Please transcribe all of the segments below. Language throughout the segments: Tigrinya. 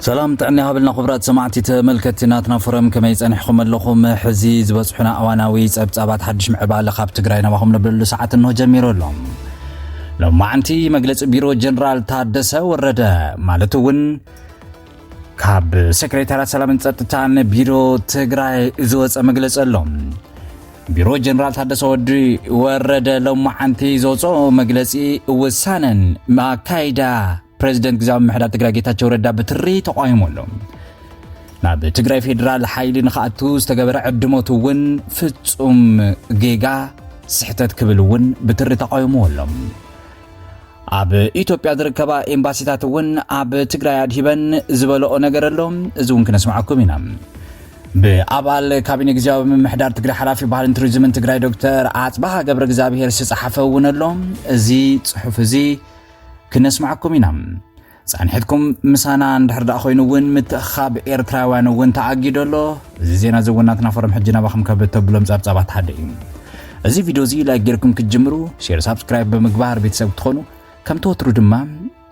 ሰላም ጥዕና ይሃበልና ክቡራት ሰማዕቲ ተመልከትቲ ናትና ፎረም ከመይ ጸኒሕኩም ኣለኹም ሕዚ ዝበጽሑና እዋናዊ ጸብጻባት ሓድሽ ምዕባለ ካብ ትግራይ ናባኹም ነብለሉ ሰዓት እንሆ ጀሚሩ ኣሎ ሎማዓንቲ መግለፂ ቢሮ ጀነራል ታደሰ ወረደ ማለት እውን ካብ ሴክሬታርያት ሰላምን ጸጥታን ቢሮ ትግራይ ዝወፀ መግለፂ ኣሎ ቢሮ ጀነራል ታደሰ ወዲ ወረደ ሎማዓንቲ ዘውፅኦ መግለፂ ውሳነን ኣካይዳ ፕሬዚደንት ግዛዊ ምሕዳር ትግራይ ጌታቸው ረዳ ብትሪ ተቋሂሙ ኣሎ ናብ ትግራይ ፌዴራል ሓይሊ ንክኣቱ ዝተገበረ ዕድሞት እውን ፍጹም ጌጋ ስሕተት ክብል እውን ብትሪ ተቋሂሙዎ ኣሎ ኣብ ኢትዮጵያ ዝርከባ ኤምባሲታት እውን ኣብ ትግራይ ኣድሂበን ዝበለኦ ነገር ኣሎ እዚ እውን ክነስማዓኩም ኢና ብኣባል ካቢነ ግዜያዊ ምምሕዳር ትግራይ ሓላፊ ባህልን ቱሪዝምን ትግራይ ዶክተር ኣፅባሃ ገብረ እግዚኣብሄር ዝተፅሓፈ እውን ኣሎ እዚ ፅሑፍ እዚ ክነስማዓኩም ኢና ጻንሒትኩም ምሳና እንድሕር ደኣ ኮይኑ እውን ምትእኽኻብ ኤርትራውያን እውን ተኣጊዶ ኣሎ። እዚ ዜና እዚ እውን ናትና ፎረም ሕጂ ናባኹም ካብ እተብሎም ጸብጻባት ሓደ እዩ። እዚ ቪድዮ እዚ ላይክ ጌርኩም ክትጅምሩ፣ ሼር ሳብስክራይብ ብምግባር ቤተሰብ ክትኾኑ፣ ከምቲ ወትሩ ድማ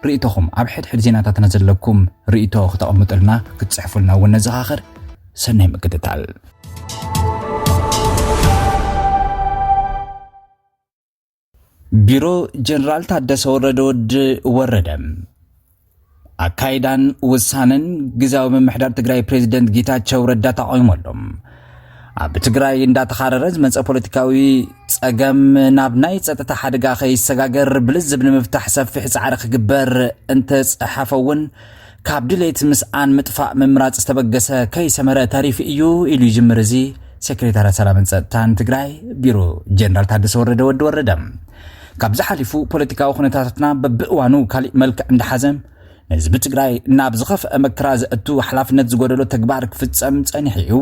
ርእይቶኹም ኣብ ሕድሕድ ዜናታትና ዘለኩም ርእይቶ ክተቐምጡልና ክትጽሕፉልና እውን ነዘኻኽር። ሰናይ ምክትታል። ቢሮ ጀነራል ታደሰ ወረደ ወዲ ወረደ ኣካይዳን ውሳነን ግዜያዊ ምምሕዳር ትግራይ ፕሬዚደንት ጌታቸው ረዳ ተቃዊሞ ኣሎ። ኣብ ትግራይ እንዳተኻረረ ዝመፀ ፖለቲካዊ ፀገም ናብ ናይ ፀጥታ ሓደጋ ከይሰጋገር ብልዝብ ንምፍታሕ ሰፊሕ ፃዕሪ ክግበር እንተፀሓፈ እውን ካብ ድሌት ምስኣን ምጥፋእ ምምራጽ ዝተበገሰ ከይሰመረ ተሪፉ እዩ ኢሉ ይጅምር እዚ ሴክሬታርያት ሰላምን ጸጥታን ትግራይ ቢሮ ጀነራል ታደሰ ወረደ ወዲ ወረደ። ካብዚ ሓሊፉ ፖለቲካዊ ኩነታታትና በብእዋኑ ካሊእ መልክዕ እንዳሓዘ ንህዝቢ ትግራይ ናብ ዝኸፍአ መከራ ዘእቱ ሓላፍነት ዝጎደሎ ተግባር ክፍጸም ጸኒሑ እዩ።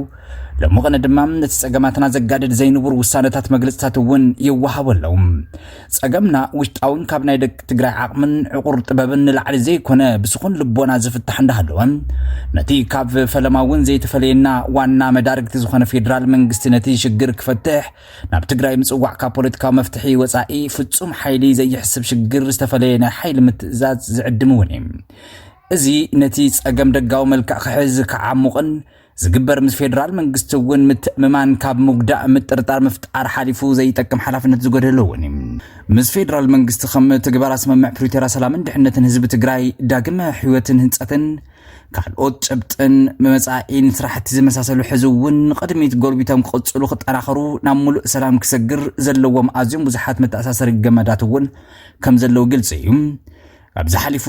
ሎሚ ቅነ ድማ ነቲ ጸገማትና ዘጋድድ ዘይንቡር ውሳነታት መግለጽታት እውን ይወሃቦ ኣለዉ። ጸገምና ውሽጣውን ካብ ናይ ደቂ ትግራይ ዓቕምን ዕቑር ጥበብን ንላዕሊ ዘይኮነ ብስኹን ልቦና ዝፍታሕ እንዳሃለወ ነቲ ካብ ፈለማ እውን ዘይተፈለየና ዋና መዳርግቲ ዝኾነ ፌዴራል መንግስቲ ነቲ ሽግር ክፈትሕ ናብ ትግራይ ምጽዋዕ ካብ ፖለቲካዊ መፍትሒ ወጻኢ ፍጹም ሓይሊ ዘይሕስብ ሽግር ዝተፈለየ ናይ ሓይሊ ምትእዛዝ ዝዕድም እውን እዩ እዚ ነቲ ጸገም ደጋዊ መልክዕ ክሕዝ ክዓሙቕን ዝግበር ምስ ፌዴራል መንግስቲ እውን ምትእምማን ካብ ምጉዳእ ምጥርጣር ምፍጣር ሓሊፉ ዘይጠቅም ሓላፍነት ዝጎደሎ እውን እዩ ምስ ፌዴራል መንግስቲ ከም ትግበራ ስምምዕ ፕሪቶሪያ ሰላምን ድሕነትን ህዝቢ ትግራይ ዳግመ ሕይወትን ህንፀትን ካልኦት ጭብጥን መመፃኢን ስራሕቲ ዝመሳሰሉ ሕዚ እውን ንቕድሚት ጎልቢቶም ክቕፅሉ ክጠናኸሩ ናብ ሙሉእ ሰላም ክሰግር ዘለዎም ኣዝዮም ብዙሓት መተኣሳሰሪ ገመዳት እውን ከም ዘለዉ ግልፂ እዩ ካብዚ ሓሊፉ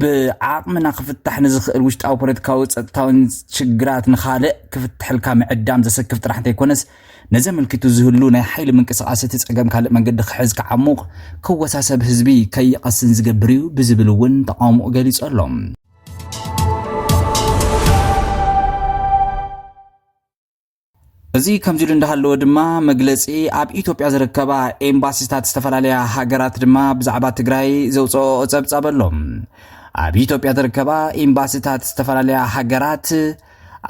ብዓቕምና ክፍታሕ ንዝኽእል ውሽጣዊ ፖለቲካዊ ፀጥታዊን ሽግራት ንኻልእ ክፍትሐልካ ምዕዳም ዘሰክፍ ጥራሕ እንተይኮነስ ነዚ ኣመልኪቱ ዝህሉ ናይ ሓይሊ ምንቅስቓስ እቲ ፀገም ካልእ መንገዲ ክሕዝ ክዓሙቕ ክወሳሰብ ህዝቢ ከይቐስን ዝገብር እዩ ብዝብል እውን ተቓውሞኡ ገሊፁ ኣሎ። እዚ ከምዚ ኢሉ እንዳሃለወ ድማ መግለፂ ኣብ ኢትዮጵያ ዝርከባ ኤምባሲታት ዝተፈላለያ ሃገራት ድማ ብዛዕባ ትግራይ ዘውፅኦ ፀብፃብ ኣሎ። ኣብ ኢትዮጵያ ዝርከባ ኤምባሲታት ዝተፈላለያ ሃገራት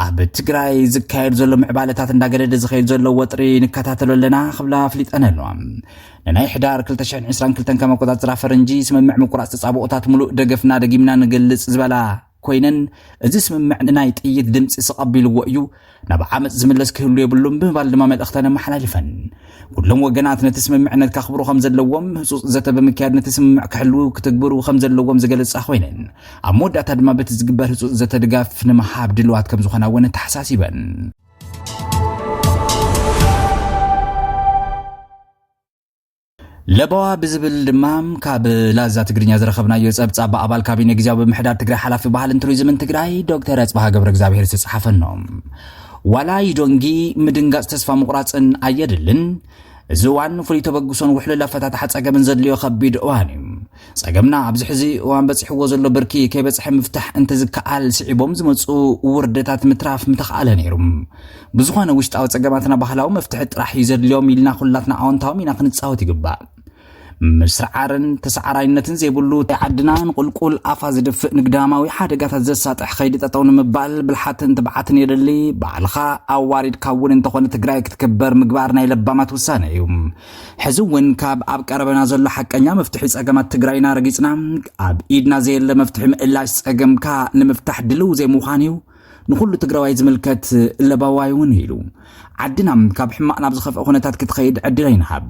ኣብ ትግራይ ዝካየድ ዘሎ ምዕባለታት እንዳገደደ ዝኸይድ ዘሎ ወጥሪ ንከታተሎ ኣለና ክብላ ኣፍሊጠን ኣለዋ ንናይ ሕዳር 222 ከም ኣቆፃፅራ ፈረንጂ ስምምዕ ምቁራፅ ተፃብኦታት ሙሉእ ደገፍና ደጊምና ንገልፅ ዝበላ ኮይነን እዚ ስምምዕ ንናይ ጥይት ድምፂ ስቐቢልዎ እዩ ናብ ዓመፅ ዝምለስ ክህሉ የብሉን ብምባል ድማ መልእኽተን ኣመሓላሊፈን ኩሎም ወገናት ነቲ ስምምዕነት ከኽብሩ ከም ዘለዎም ህፁፅ ዘተ ብምክያድ ነቲ ስምምዕ ክሕልው ክትግብሩ ከም ዘለዎም ዝገለፃ ኮይነን ኣብ መወዳእታ ድማ በቲ ዝግበር ህፁፅ ዘተ ድጋፍ ንምሃብ ድልዋት ከም ዝኾና እውን ተሓሳሲበን ለበዋ ብዝብል ድማ ካብ ላዛ ትግርኛ ዝረኸብናዮ ጸብጻብ ብኣባል ካቢኔ ግዜያዊ ምምሕዳር ትግራይ ሓላፊ ባህልን ቱሪዝምን ትግራይ ዶክተር ኣጽብሃ ገብረ እግዚኣብሄር ዝተጻሓፈ ኖ ዋላ ይዶንጊ ምድንጋጽ ተስፋ ምቑራጽን ኣየድልን እዚ እዋን ፍሉይ ተበግሶን ውሕሉል ኣፈታትሓ ጸገምን ዘድልዮ ከቢድ እዋን እዩ ጸገምና ኣብዚ ሕዚ እዋን በጺሕዎ ዘሎ ብርኪ ከይበጽሐ ምፍታሕ እንተዝከኣል ስዒቦም ዝመጹ ውርደታት ምትራፍ ምተኽኣለ ነይሩ። ብዝኾነ ውሽጣዊ ጸገማትና ባህላዊ መፍትሒ ጥራሕ እዩ ዘድልዮም ኢልና ኩላትና ኣወንታዊ ሚና ክንጻወት ይግባእ። ምስርዓርን ተሰዓራይነትን ዘይብሉ ዓድና ንቁልቁል ኣፋ ዝድፍእ ንግዳማዊ ሓደጋታት ዘሳጥሕ ከይዲ ጠጠው ንምባል ብልሓትን ትብዓትን የድሊ። ባዕልኻ ኣዋሪድካ እውን እንተኾነ ትግራይ ክትክበር ምግባር ናይ ለባማት ውሳነ እዩ። ሕዚ እውን ካብ ኣብ ቀረበና ዘሎ ሓቀኛ መፍትሒ ጸገማት ትግራይና ረጊጽና ኣብ ኢድና ዘየለ መፍትሒ ምእላሽ ጸገምካ ንምፍታሕ ድልው ዘይምዃን እዩ ንኹሉ ትግራዋይ ዝምልከት ለባዋይ እውን ኢሉ ዓድና ካብ ሕማቕ ናብ ዝኸፍአ ኩነታት ክትኸይድ ዕድል ኣይንሃብ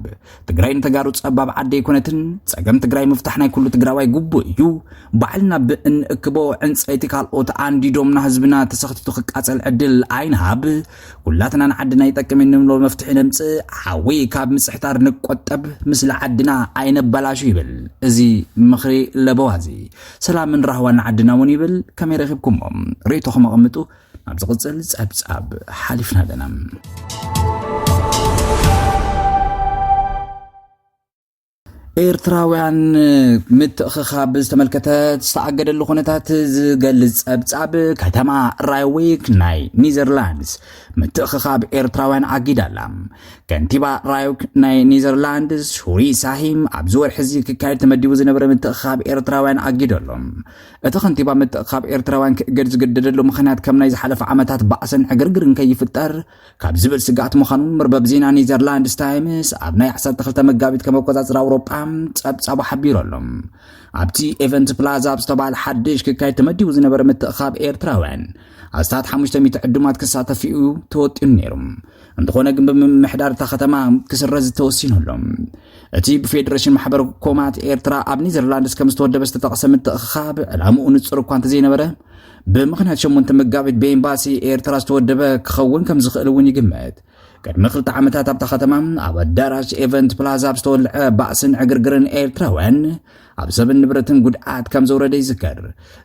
ትግራይ ንተጋሩ ጸባብ ዓዲ ኣይኮነትን ጸገም ትግራይ ምፍታሕ ናይ ኩሉ ትግራዋይ ግቡእ እዩ ባዕልና ብእንእክቦ ዕንፀይቲ ካልኦት ኣንዲዶምና ህዝብና ተሰኽቲቱ ክቃጸል ዕድል ኣይንሃብ ኩላትና ንዓድና ይጠቅም እዩ ንብሎ መፍትሒ ነምፅእ፣ ሓዊ ካብ ምፅሕታር ንቆጠብ፣ ምስሊ ዓድና ኣይነባላሹ ይብል እዚ ምኽሪ ለበዋ እዚ። ሰላምን ራህዋን ንዓድና እውን ይብል። ከመይ ረኺብኩሞ? ርእይቶኹም ኣቐምጡ። ናብ ዝቕፅል ፀብፃብ ሓሊፍና ኣለና። ኤርትራውያን ምትእኽኻብ ዝተመልከተ ዝተኣገደሉ ኩነታት ዝገልጽ ጸብጻብ ከተማ ራይዊክ ናይ ኒዘርላንድስ ምትእኽኻብ ኤርትራውያን ኣጊዳ ኣላ ከንቲባ ራይዊክ ናይ ኒዘርላንድስ ሁሪ ሳሂም ኣብዚ ወርሒ እዚ ክካየድ ተመዲቡ ዝነበረ ምትእኽኻብ ኤርትራውያን ኣጊዶ ኣሎ እቲ ከንቲባ ምትእኽኻብ ኤርትራውያን ክእገድ ዝገደደሉ ምክንያት ከም ናይ ዝሓለፈ ዓመታት ባእስን ዕግርግርን ከይፍጠር ካብ ዝብል ስግኣት ምዃኑ መርበብ ዜና ኔዘርላንድስ ታይምስ ኣብ ናይ 12 መጋቢት ከም ኣቆጻጽራ ኣውሮጳ ጸብጻቡ ሓቢሩ ኣሎ ኣብቲ ኤቨንት ፕላዛ ኣብ ዝተባሃለ ሓድሽ ክካየድ ተመዲቡ ዝነበረ ምትእኻብ ኤርትራውያን ኣስታት 500 ዕዱማት ክሳተፍ እዩ ተወጢኑ ነይሩ እንተኾነ ግን ብምምሕዳር እታ ከተማ ክስረዝ ተወሲኑሎ እቲ ብፌዴሬሽን ማሕበር ኮማት ኤርትራ ኣብ ኔዘርላንድስ ከም ዝተወደበ ዝተጠቕሰ ምትእኻብ ዕላምኡ ንጹር እኳ እንተዘይነበረ ብምኽንያት ሸሞንተ መጋቢት ብኤምባሲ ኤርትራ ዝተወደበ ክኸውን ከም ዝኽእል እውን ይግመት። ቅድሚ ክልተ ዓመታት ኣብታ ከተማ ኣብ ኣዳራሽ ኤቨንት ፕላዛ ኣብ ዝተወልዐ ባእስን ዕግርግርን ኤርትራውያን ኣብ ሰብን ንብረትን ጉድኣት ከም ዘውረደ ይዝከር።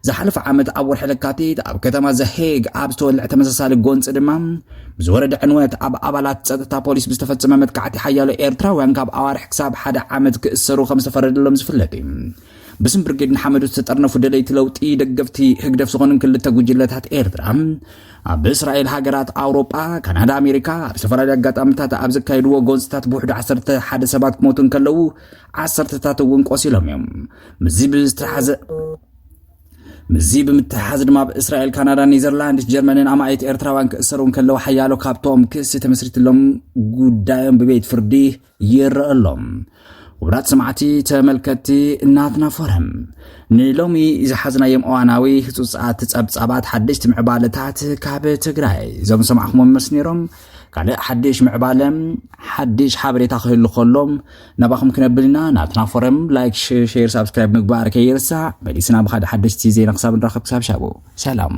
ዝሓለፈ ዓመት ኣብ ወርሒ ለካቲት ኣብ ከተማ ዘሄግ ኣብ ዝተወልዐ ተመሳሳሊ ጎንፂ ድማ ብዝወረደ ዕንወት ኣብ ኣባላት ፀጥታ ፖሊስ ብዝተፈፀመ መጥቃዕቲ ሓያሎ ኤርትራውያን ካብ ኣዋርሕ ክሳብ ሓደ ዓመት ክእሰሩ ከም ዝተፈረደሎም ዝፍለጥ እዩ። ብስም ብርጌድ ንሓመዱ ዝተጠርነፉ ደለይቲ ለውጢ ደገፍቲ ህግደፍ ዝኾኑን ክልተ ጉጅለታት ኤርትራ ኣብ እስራኤል ሃገራት ኣውሮጳ ካናዳ ኣሜሪካ ኣብ ዝተፈላለዩ ኣጋጣሚታት ኣብ ዘካየድዎ ጎንፅታት ብውሕዱ 11 ሰባት ክሞቱ እንከለዉ ዓሰርተታት እውን ቆሲሎም እዮም ምስዚ ብዝተሓዘ ምስዚ ብምትሕሓዝ ድማ ኣብ እስራኤል ካናዳ ኔዘርላንድስ ጀርመንን ኣማኢት ኤርትራውያን ክእሰሩ እንከለዉ ሓያሎ ካብቶም ክሲ ተመስሪትሎም ጉዳዮም ብቤት ፍርዲ ይረአ ኣሎ። ውራት ሰማዕቲ ተመልከትቲ ናትና ፎረም ንሎሚ ዝሓዝናዮም እዋናዊ ህፁፃት ፀብፃባት ሓደሽቲ ምዕባለታት ካብ ትግራይ እዞም ሰማዕኹሞም መስ ነይሮም ካልእ ሓድሽ ምዕባለ ሓድሽ ሓበሬታ ክህሉ ከሎም ናባኹም ክነብል ኢና ናትና ፎረም ላይክ ሼር ሳብስክራይብ ምግባር ከይርሳዕ መሊስና ብካደ ሓደሽቲ ዜና ክሳብ ንራኸብ ክሳብ ሻቡ ሰላም